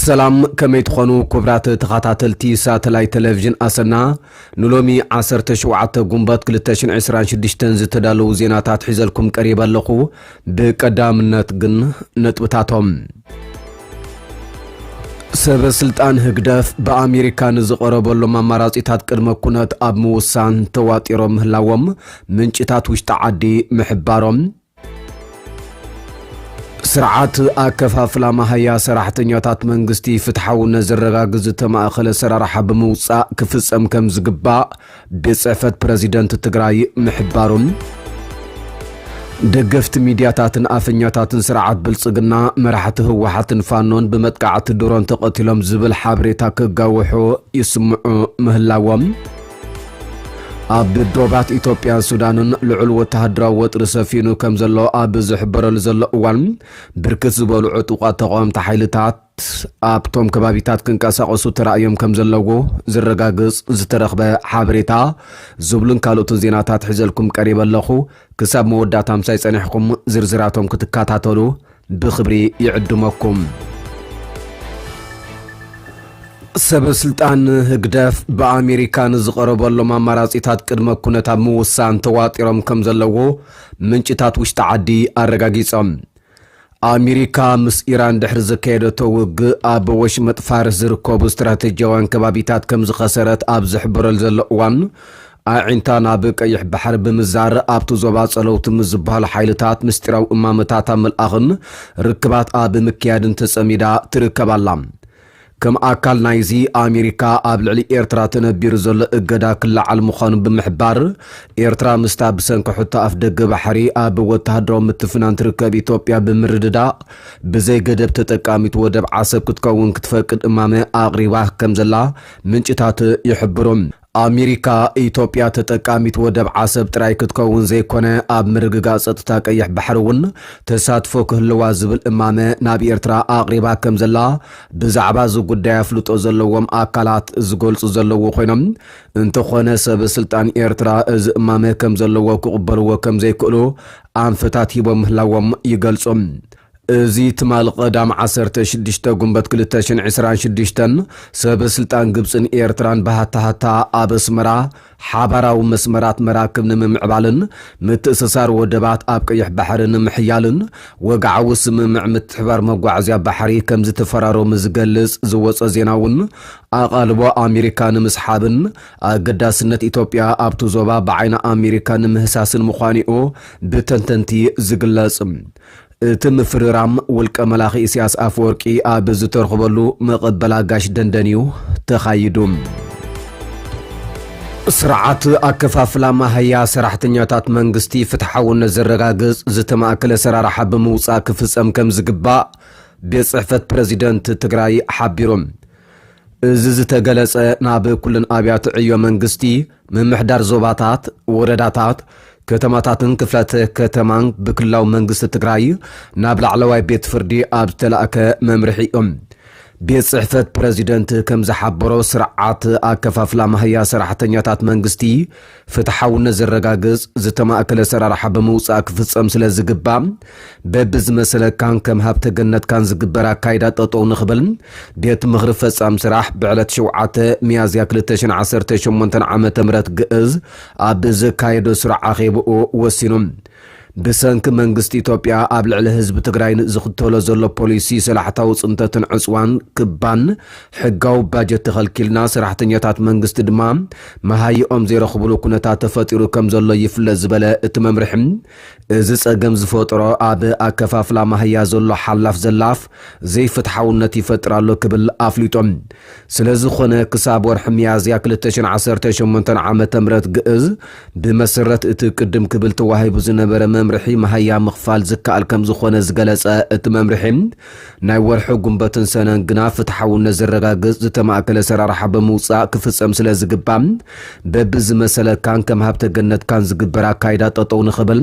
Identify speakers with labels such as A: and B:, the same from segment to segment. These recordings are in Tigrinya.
A: ሰላም ከመይ ትኾኑ ክብራት ተኸታተልቲ ሳተላይት ቴሌቭዥን ኣሰና ንሎሚ 17 ጉንበት 226 ዝተዳለዉ ዜናታት ሒዘልኩም ቀሪበ ኣለኹ ብቀዳምነት ግን ነጥብታቶም ሰበ ስልጣን ህግደፍ ብኣሜሪካ ንዝቐረበሎም ኣማራጺታት ቅድመ ኩነት ኣብ ምውሳን ተዋጢሮም ምህላዎም ምንጭታት ውሽጢ ዓዲ ምሕባሮም ስርዓት ኣከፋፍላ መሃያ ሰራሕተኛታት መንግስቲ ፍትሓውነት ዘረጋግዝ ዝተማእኸለ ሰራርሓ ብምውፃእ ክፍፀም ከም ዝግባእ ቤትጽሕፈት ፕረዚደንት ትግራይ ምሕባሩን ደገፍቲ ሚድያታትን ኣፈኛታትን ስርዓት ብልጽግና መራሕቲ ህወሓትን ፋኖን ብመጥቃዕቲ ድሮን ተቐቲሎም ዝብል ሓበሬታ ክጋውሑ ይስምዑ ምህላዎም ኣብ ዶባት ኢትዮጵያን ሱዳንን ልዑል ወተሃደራዊ ወጥሪ ሰፊኑ ከም ዘሎ ኣብ ዝሕበረሉ ዘሎ እዋን ብርክት ዝበሉ ዕጡቋት ተቃወምቲ ሓይልታት ኣብቶም ከባቢታት ክንቀሳቐሱ ተራእዮም ከም ዘለዎ ዝረጋግጽ ዝተረኽበ ሓበሬታ ዝብሉን ካልኦትን ዜናታት ሒዘልኩም ቀሪበ ኣለኹ። ክሳብ መወዳእታ ምሳይ ጸኒሕኩም ዝርዝራቶም ክትከታተሉ ብኽብሪ ይዕድመኩም። ሰበስልጣን ህግደፍ ብኣሜሪካ ንዝቐረበሎም ኣማራጺታት ቅድመ ኩነት ኣብ ምውሳን ተዋጢሮም ከም ዘለዎ ምንጭታት ውሽጢ ዓዲ ኣረጋጊጾም። ኣሜሪካ ምስ ኢራን ድሕሪ ዘካየደቶ ውግእ ኣብ ወሽመጥ ፋርስ ዝርከቡ ስትራተጂያውያን ከባቢታት ከም ዝኸሰረት ኣብ ዝሕበረሉ ዘሎ እዋን ኣዒንታ ናብ ቀይሕ ባሕሪ ብምዛር ኣብቲ ዞባ ጸለውቲ ምስ ዝበሃሉ ሓይልታት ምስጢራዊ እማመታት ኣብ ምልኣኽን ርክባት ኣብ ምክያድን ተጸሚዳ ትርከብ ኣላ። ከም ኣካል ናይዚ ኣሜሪካ ኣብ ልዕሊ ኤርትራ ተነቢሩ ዘሎ እገዳ ክለዓል ምዃኑ ብምሕባር፣ ኤርትራ ምስታ ብሰንኪ ሕቶ ኣፍደገ ባሕሪ ኣብ ወተሃደራዊ ምትፍናን ትርከብ ኢትዮጵያ ብምርድዳእ ብዘይ ገደብ ተጠቃሚት ወደብ ዓሰብ ክትከውን ክትፈቅድ እማመ ኣቕሪባ ከምዘላ ምንጭታት ይሕብሩ። ኣሚሪካ፣ ኢትዮጵያ ተጠቃሚት ወደብ ዓሰብ ጥራይ ክትከውን ዘይኮነ ኣብ ምርግጋእ ጸጥታ ቀይሕ ባሕሪ እውን ተሳትፎ ክህልዋ ዝብል እማመ ናብ ኤርትራ ኣቕሪባ ከምዘላ ብዛዕባ እዚ ጉዳይ ኣፍልጦ ዘለዎም ኣካላት ዝገልጹ ዘለዉ ኮይኖም እንተኾነ ሰበ ስልጣን ኤርትራ እዚ እማመ ከምዘለዎ ክቕበልዎ ከምዘይክእሉ ኣንፈታት ሂቦም ምህላዎም ይገልጹ። እዚ ትማል ቐዳም ዓሰርተ ሽዱሽተ ጉንበት ክልተ ሽሕን ዕስራን ሽዱሽተን ሰበ ስልጣን ግብጽን ኤርትራን ብሃታሃታ ኣብ ኣስመራ ሓባራዊ መስመራት መራክብ ንምምዕባልን ምትእስሳር ወደባት ኣብ ቀይሕ ባሕሪ ንምሕያልን ወግዓዊ ስምምዕ ምትሕብባር መጓዓዝያ ባሕሪ ከምዝተፈራረሙ ዝገልጽ ዝወጸ ዜና'ውን ኣቓልቦ ኣሜሪካ ንምስሓብን ኣገዳስነት ኢትዮጵያ ኣብቲ ዞባ ብዓይኒ ኣሜሪካ ንምህሳስን ምዃኑ'ዩ ብተንተንቲ ዝግለጽ። እቲ ምፍርራም ውልቀ መላኺ ኢሲያስ ኣፈወርቂ ኣብ ዝተርኽበሉ መቐበል ኣጋሽ ደንደን እዩ ተኻይዱ። ስርዓት ኣከፋፍላ ማሃያ ሰራሕተኛታት መንግስቲ ፍትሓውነት ዘረጋግፅ ዝተማእከለ ኣሰራርሓ ብምውፃእ ክፍፀም ከምዝግባእ ቤት ፅሕፈት ፕረዚደንት ትግራይ ሓቢሩ። እዚ ዝተገለፀ ናብ ኩለን ኣብያተ ዕዮ መንግስቲ ምምሕዳር ዞባታት፣ ወረዳታት፣ ከተማታትን ክፍላተ ከተማን ብክልላዊ መንግስቲ ትግራይ ናብ ላዕለዋይ ቤት ፍርዲ ኣብ ዝተላእከ መምርሒ እዮም። ቤት ፅሕፈት ፕረዚደንት ከምዝሓበሮ ስርዓት ኣከፋፍላ ማህያ ሰራሕተኛታት መንግስቲ ፍትሓውነት ዘረጋግፅ ዝተማእከለ ኣሰራርሓ ብምውፃእ ክፍፀም ስለዝግባእ በብዝመሰለካን ከም ሃብተ ገነትካን ዝግበር ኣካይዳ ጠጠው ንኽበል ቤት ምኽሪ ፈፃም ስራሕ ብዕለት ሸውዓተ ሚያዝያ ክልተ ሽሕን ዓሰርተ ሸሞንተን ዓመተ ምህረት ግእዝ ኣብ ዘካየዶ ስሩዕ ኣኼብኡ ወሲኑ። ብሰንኪ መንግስቲ ኢትዮጵያ ኣብ ልዕሊ ህዝቢ ትግራይን ዝኽተሎ ዘሎ ፖሊሲ ሰላሕታዊ ፅንተትን ዕፅዋን ክባን ሕጋዊ ባጀት ተኸልኪልና ሰራሕተኛታት መንግስቲ ድማ መሃይኦም ዘይረኽብሉ ኩነታት ተፈጢሩ ከምዘሎ ይፍለጥ ዝበለ እቲ መምርሒ እዚ ጸገም ዝፈጥሮ ኣብ ኣከፋፍላ ማህያ ዘሎ ሓላፍ ዘላፍ ዘይፍትሓውነት ይፈጥር ኣሎ ክብል ኣፍሊጡ። ስለዝኾነ ክሳብ ወርሒ ሚያዝያ ክልተ ሽሕን ዓሰርተ ሸሞንተን ዓመተ ምህረት ግእዝ ብመሰረት እቲ ቅድም ክብል ተዋሂቡ ዝነበረ መምርሒ ማህያ ምኽፋል ዝከኣል ከምዝኾነ ዝገለጸ እቲ መምርሒ ናይ ወርሒ ጉንበትን ሰነን ግና ፍትሓውነት ዘረጋግፅ ዝተማእከለ ኣሰራርሓ ብምውፃእ ክፍፀም ስለዝግባእ በቢዝመሰለካን ከም ሃብተ ገነትካን ዝግበር ኣካይዳ ጠጠው ንኽብል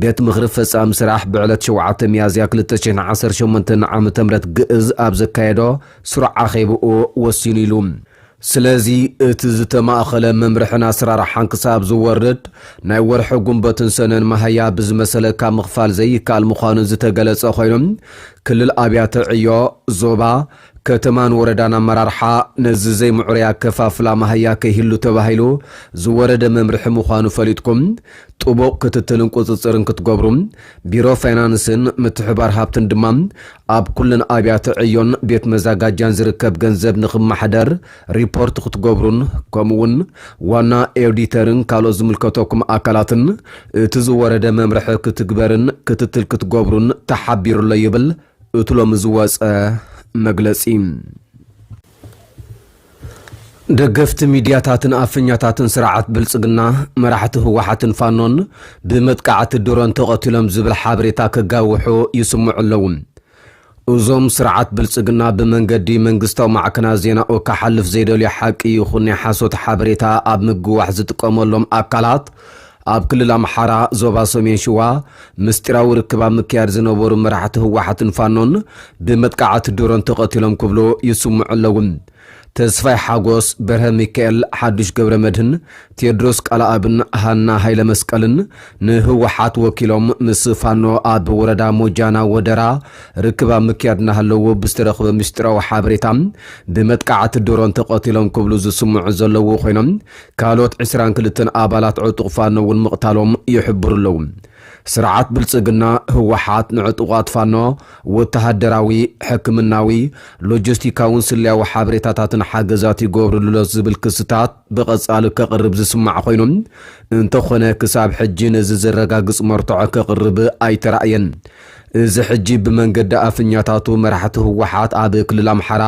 A: ቤት ምኽሪ ፈፃሚ ስራሕ ብዕለት ሸውዓተ ሚያዝያ ክልተ ሽሕን ዓሰርተ ሸሞንተን ዓመተ ምህረት ግእዝ ኣብ ዘካየዶ ስሩዕ ኣኼብኡ ወሲኑ ኢሉ። ስለዚ እቲ ዝተማእኸለ መምርሕን ኣስራርሓን ክሳብ ዝወርድ ናይ ወርሒ ጉንበትን ሰነን ማሃያ ብዝመሰለካ ምኽፋል ዘይካኣል ምዃኑ ዝተገለፀ ኾይኑ ክልል ኣብያተ ዕዮ፣ ዞባ፣ ከተማን ወረዳን ኣመራርሓ ነዚ ዘይምዑሩይ ኣከፋፍላ ማሃያ ከይህሉ ተባሂሉ ዝወረደ መምርሒ ምዃኑ ፈሊጥኩም ጥቡቕ ክትትልን ቁፅፅርን ክትገብሩ፣ ቢሮ ፋይናንስን ምትሕብባር ሃፍትን ድማ ኣብ ኩለን ኣብያተ ዕዮን ቤት መዛጋጃን ዝርከብ ገንዘብ ንክመሓደር ሪፖርት ክትገብሩን ከምኡ እውን ዋና ኤውዲተርን ካልኦት ዝምልከተኩም ኣካላትን እቲ ዝወረደ መምርሒ ክትግበርን ክትትል ክትገብሩን ተሓቢሩ'ሎ ይብል እቲ ሎሚ ዝወፀ መግለፂ። ደገፍቲ ሚድያታትን ኣፈኛታትን ስርዓት ብልፅግና፣ መራሕቲ ህወሓትን ፋኖን ብመጥቃዕቲ ድሮን ተቐቲሎም ዝብል ሓበሬታ ከጋውሑ ይስምዑ ኣለዉ። እዞም ስርዓት ብልፅግና ብመንገዲ መንግስታዊ ማዕከናት ዜናኡ ክሓልፍ ዘይደልዮ ሓቂ ይኹን ናይ ሓሶት ሓበሬታ ኣብ ምግዋሕ ዝጥቀመሎም ኣካላት ኣብ ክልል ኣምሓራ ዞባ ሰሜን ሽዋ ምስጢራዊ ርክብ ኣብ ምክያድ ዝነበሩ መራሕቲ ህወሓትን ፋኖን ብመጥቃዕቲ ድሮን ተቐቲሎም ክብሉ ይስምዑ ኣለዉ። ተስፋይ ሓጎስ፣ በርሀ ሚካኤል፣ ሓዱሽ ገብረመድህን፣ ቴድሮስ ቃለኣብን ሃና ሃይለመስቀልን ንህወሓት ወኪሎም ምስ ፋኖ ኣብ ወረዳ ሞጃና ወደራ ርክብ ኣብ ምክያድ እናሃለዉ ብዝተረኽበ ምስጢራዊ ሓበሬታ ብመጥቃዕቲ ድሮን ተቐቲሎም ክብሉ ዝስምዑ ዘለዉ ኮይኖም ካልኦት ዕስራን ክልተን ኣባላት ዕጡቕ ፋኖ እውን ምቕታሎም ይሕብሩ ኣለዉ። ስርዓት ብልጽግና፣ ህወሓት፣ ንዕጡቓት ፋኖ ወተሃደራዊ፣ ሕክምናዊ፣ ሎጀስቲካውን ስለያዊ ሓበሬታታትን ሓገዛት ይገብርሉ'ሎ ዝብል ክስታት ብቐጻሊ ከቕርብ ዝስማዕ ኮይኑ፣ እንተኾነ ክሳብ ሕጂ ነዚ ዘረጋግጽ መርትዖ ከቕርብ ኣይተራእየን። እዚ ሕጂ ብመንገዲ ኣፍኛታቱ መራሕቲ ህወሓት ኣብ ክልል ኣምሓራ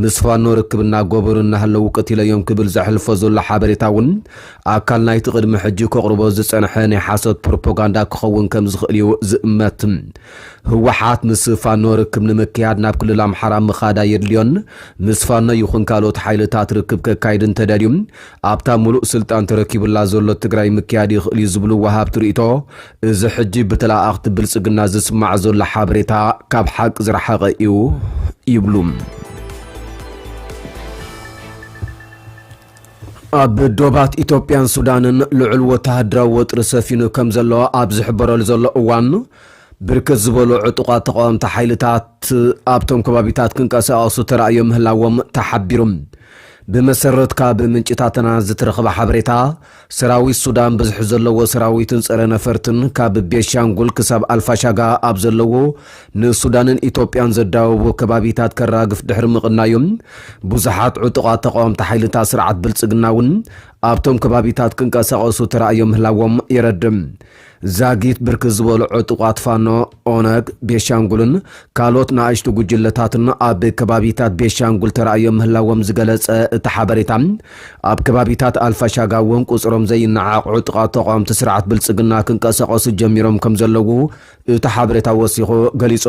A: ምስ ፋኖ ርክብ እናገበሩ እናሃለዉ ቀቲለዮም ክብል ዘሕልፎ ዘሎ ሓበሬታ እውን ኣካል ናይቲ ቅድሚ ሕጂ ከቕርቦ ዝጸንሐ ናይ ሓሶት ፕሮፖጋንዳ ክኸውን ከም ዝኽእል እዩ ዝእመት። ህወሓት ምስ ፋኖ ርክብ ንምክያድ ናብ ክልል ኣምሓራ ምኻድ ኣየድልዮን። ምስ ፋኖ ይኹን ካልኦት ሓይልታት ርክብ ከካይድ እንተደልዩ ኣብታ ምሉእ ስልጣን ተረኪቡላ ዘሎ ትግራይ ምክያድ ይኽእል እዩ ዝብሉ ወሃብቲ ርእይቶ እዚ ሕጂ ብተለኣኣኽቲ ብልጽግና ዝስማዕ ዘሎ ሓበሬታ ካብ ሓቂ ዝረሓቐ እዩ ይብሉ። ኣብ ዶባት ኢትዮጵያን ሱዳንን ልዑል ወተሃደራዊ ወጥሪ ሰፊኑ ከም ዘሎ ኣብ ዝሕበረሉ ዘሎ እዋን ብርክት ዝበሉ ዕጡቓት ተቃወምቲ ሓይልታት ኣብቶም ከባቢታት ክንቀሳቐሱ ተራእዮ ምህላዎም ተሓቢሩ። ብመሰረት ካብ ምንጭታትና ዝተረኽበ ሓበሬታ ሰራዊት ሱዳን ብዝሒ ዘለዎ ሰራዊትን ፀረ ነፈርትን ካብ ቤንሻንጉል ክሳብ ኣልፋሻጋ ኣብ ዘለዎ ንሱዳንን ኢትዮጵያን ዘዳውቡ ከባቢታት ከራግፍ ድሕሪ ምቕናዩ ብዙሓት ዕጡቓት ተቓወምቲ ሓይልታት ስርዓት ብልፅግና እውን ኣብቶም ከባቢታት ክንቀሳቐሱ ተራእዮም ምህላዎም የረድእ። ዛጊት ብርክት ዝበሉ ዕጡቓት ፋኖ፣ ኦነግ፣ ቤሻንጉልን ካልኦት ንኣሽቱ ጉጅለታትን ኣብ ከባቢታት ቤሻንጉል ተራእዮም ምህላዎም ዝገለጸ እቲ ሓበሬታ፣ ኣብ ከባቢታት ኣልፋሻጋ እውን ቁጽሮም ዘይነዓቕ ዕጡቓት ተቓወምቲ ስርዓት ብልጽግና ክንቀሳቐሱ ጀሚሮም ከምዘለዉ እቲ ሓበሬታ ወሲኹ ገሊጹ።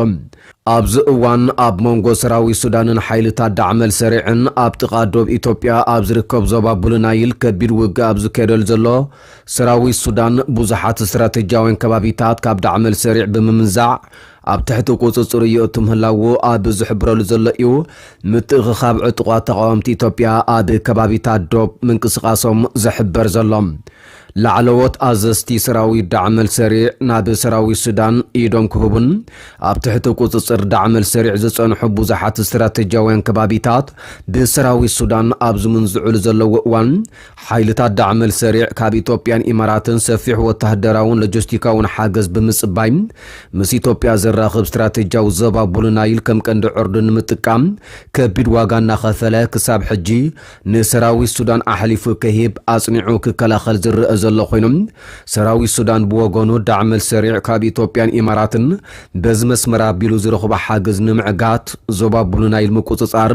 A: ኣብዚ እዋን ኣብ መንጎ ሰራዊት ሱዳንን ሓይልታት ዳዕመል ሰሪዕን ኣብ ጥቓ ዶብ ኢትዮጵያ ኣብ ዝርከብ ዞባ ቡልናይል ከቢድ ውግእ ኣብ ዝካየደሉ ዘሎ ሰራዊት ሱዳን ብዙሓት ስትራተጂያውያን ከባቢታት ካብ ዳዕመል ሰሪዕ ብምምንዛዕ ኣብ ትሕቲ ቁጽጽሩ የእቱ ምህላዉ ኣብ ዝሕብረሉ ዘሎ እዩ። ምትእኽኻብ ዕጡቓት ተቓወምቲ ኢትዮጵያ ኣብ ከባቢታት ዶብ ምንቅስቓሶም ዝሕበር ዘሎ። ላዕለዎት ኣዘዝቲ ሰራዊት ዳዕመል ሰሪዕ ናብ ሰራዊት ሱዳን ኢዶም ክህቡን ኣብ ትሕቲ ቁጽጽር ዳዕመል ሰሪዕ ዝጸንሑ ብዙሓት ስትራተጂያውያን ከባቢታት ብሰራዊት ሱዳን ኣብ ዝምንዝዑሉ ዘለዉ እዋን ሓይልታት ዳዕመል ሰሪዕ ካብ ኢትዮጵያን ኢማራትን ሰፊሕ ወታደራውን ሎጀስቲካውን ሓገዝ ብምጽባይ ምስ ኢትዮጵያ ዘራኽብ ስትራቴጂያዊ ዞባ ቡሉ ናይል ከም ቀንዲ ዕርዲ ንምጥቃም ከቢድ ዋጋ እናኸፈለ ክሳብ ሕጂ ንሰራዊት ሱዳን ኣሕሊፉ ከሂብ ኣጽኒዑ ክከላኸል ዝረኣ ዘሎ ኮይኑ ሰራዊት ሱዳን ብወገኑ ዳዕመል ሰሪዕ ካብ ኢትዮጵያን ኢማራትን በዚ መስመር ኣቢሉ ዝረኽቦ ሓገዝ ንምዕጋት ዞባ ቡሉ ናይል ምቁጽጻር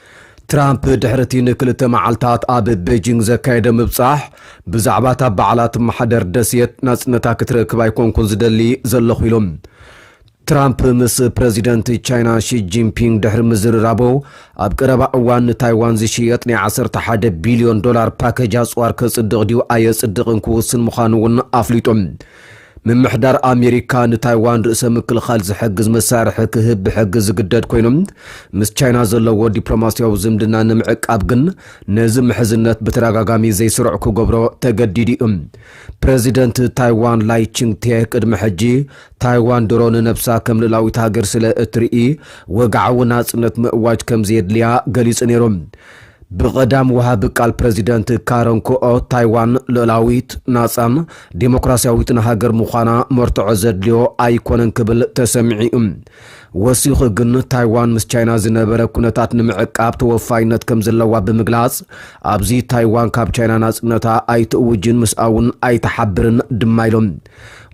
A: ትራምፕ ድሕሪ እቲ ንክልተ መዓልታት ኣብ ቤጂንግ ዘካየደ ምብጻሕ፣ ብዛዕባ እታ ባዕላ እትመሓደር ደሴት ናጽነታ ክትረክብ ኣይኮንኩን ዝደሊ ዘለኹ ኢሉ። ትራምፕ ምስ ፕረዚደንት ቻይና ሺ ጂንፒንግ ድሕሪ ምዝርራቡ፣ ኣብ ቀረባ እዋን ንታይዋን ዝሽየጥ ናይ ዓሰርተ ሓደ ቢልዮን ዶላር ፓኬጅ ኣጽዋር ከጽድቕ ድዩ ኣየጽድቕን ክውስን ምዃኑ'ውን ኣፍሊጡ። ምምሕዳር ኣሜሪካ ንታይዋን ርእሰ ምክልኻል ዝሕግዝ መሳርሒ ክህብ ብሕጊ ዝግደድ ኮይኑ ምስ ቻይና ዘለዎ ዲፕሎማስያዊ ዝምድና ንምዕቃብ ግን ነዚ ምሕዝነት ብተደጋጋሚ ዘይስሩዕ ክገብሮ ተገዲዱ እዩ። ፕረዚደንት ታይዋን ላይ ቺንግቴ ቅድሚ ሕጂ ታይዋን ድሮ ንነብሳ ከም ልእላዊት ሃገር ስለ እትርኢ ወግዓዊ ናጽነት ምእዋጅ ከም ዘየድልያ ገሊጹ ነይሩ። ብቐዳም ወሃቢ ቃል ፕረዚደንት ካረን ኩኦ፣ ታይዋን ልኡላዊት፣ ናጻን ዲሞክራስያዊትን ሃገር ምዃና መርትዖ ዘድልዮ ኣይኮነን ክብል ተሰሚዑ'ዩ። ወሲኹ ግን ታይዋን ምስ ቻይና ዝነበረ ኩነታት ንምዕቃብ ተወፋይነት ከም ዘለዋ ብምግላጽ፣ ኣብዚ ታይዋን ካብ ቻይና ናጽነታ ኣይትእውጅን ምስኣ'ውን ኣይትሓብርን ድማ ኢሎም።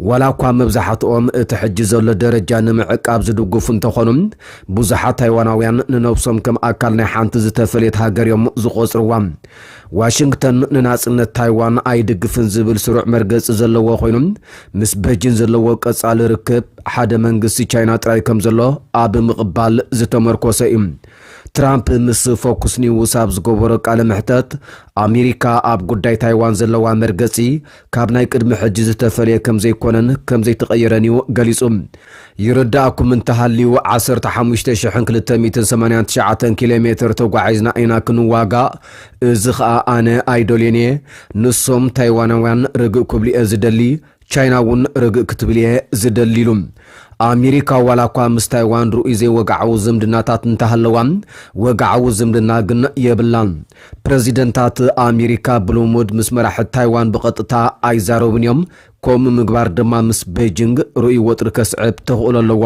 A: ዋላኳ መብዛሕትኦም እቲ ሕጂ ዘሎ ደረጃ ንምዕቃብ ዝድግፉ እንተኾኑ፣ ብዙሓት ታይዋናውያን ንነብሶም ከም ኣካል ናይ ሓንቲ ዝተፈልየት ሃገር እዮም ዝቖጽርዋ። ዋሽንግተን ንናጽነት ታይዋን ኣይድግፍን ዝብል ስሩዕ መርገጺ ዘለዎ ኮይኑ፣ ምስ በጂን ዘለዎ ቀጻሊ ርክብ ሓደ መንግስቲ ቻይና ጥራይ ከም ዘሎ ኣብ ምቕባል ዝተመርኮሰ እዩ። ትራምፕ ምስ ፎክስ ኒውስ ኣብ ዝገበሮ ቃለ መሕተት፣ ኣሜሪካ ኣብ ጉዳይ ታይዋን ዘለዋ መርገጺ ካብ ናይ ቅድሚ ሕጂ ዝተፈልየ ከም ዘይኮነን ከም ዘይተቐየረን እዩ ገሊጹ። ይርደኣኩም እንተሃልዩ ዓሰርተ ሓሙሽተ ሽሕን ክልተ ሚእትን ሰማንያን ትሽዓተን ኪሎ ሜተር ተጓዒዝና ኢና ክንዋጋእ፣ እዚ ኸኣ ኣነ ኣይደልዮን እየ። ንሶም፣ ታይዋናውያን፣ ርግእ ክብሉ እየ ዝደሊ፣ ቻይና እውን ርግእ ክትብል እየ ዝደሊ ኢሉ። ኣሜሪካ ዋላኳ ምስ ታይዋን ርኡይ ዘይወግዓዊ ዝምድናታት እንተሃለዋ፣ ወግዓዊ ዝምድና ግን የብላን። ፕረዚደንታት ኣሜሪካ ብልሙድ ምስ መራሕቲ ታይዋን ብቐጥታ ኣይዛረቡን እዮም፣ ከምኡ ምግባር ድማ ምስ በይጂንግ ርኡይ ወጥሪ ከስዕብ ተኽእሎ ኣለዎ።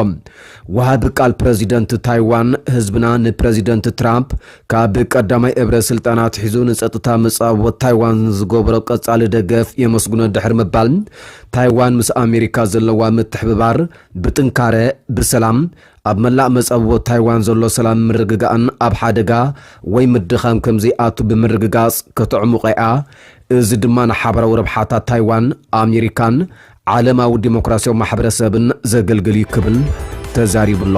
A: ወሃቢ ቃል ፕረዚደንት ታይዋን፣ ህዝብና ንፕረዚደንት ትራምፕ ካብ ቀዳማይ እብረ ስልጣን ኣትሒዙ ንጸጥታ መጻብቦ ታይዋን ንዝገበሮ ቀጻሊ ደገፍ የመስግኖ ድሕሪ ምባል፣ ታይዋን ምስ ኣሜሪካ ዘለዋ ምትሕብባር ብጥንካረ፣ ብሰላም፣ ኣብ መላእ መጻብቦ ታይዋን ዘሎ ሰላምን ምርግጋእን ኣብ ሓደጋ ወይ ምድኻም ከም ዘይኣቱ ብምርግጋጽ ከተዕሙቘ'ያ፣ እዚ ድማ ንሓባራዊ ረብሓታት ታይዋን፣ ኣሜሪካን ዓለማዊ ዲሞክራስያዊ ማሕበረሰብን ዘገልግል'ዩ ክብል ተዛሪቡ'ሎ።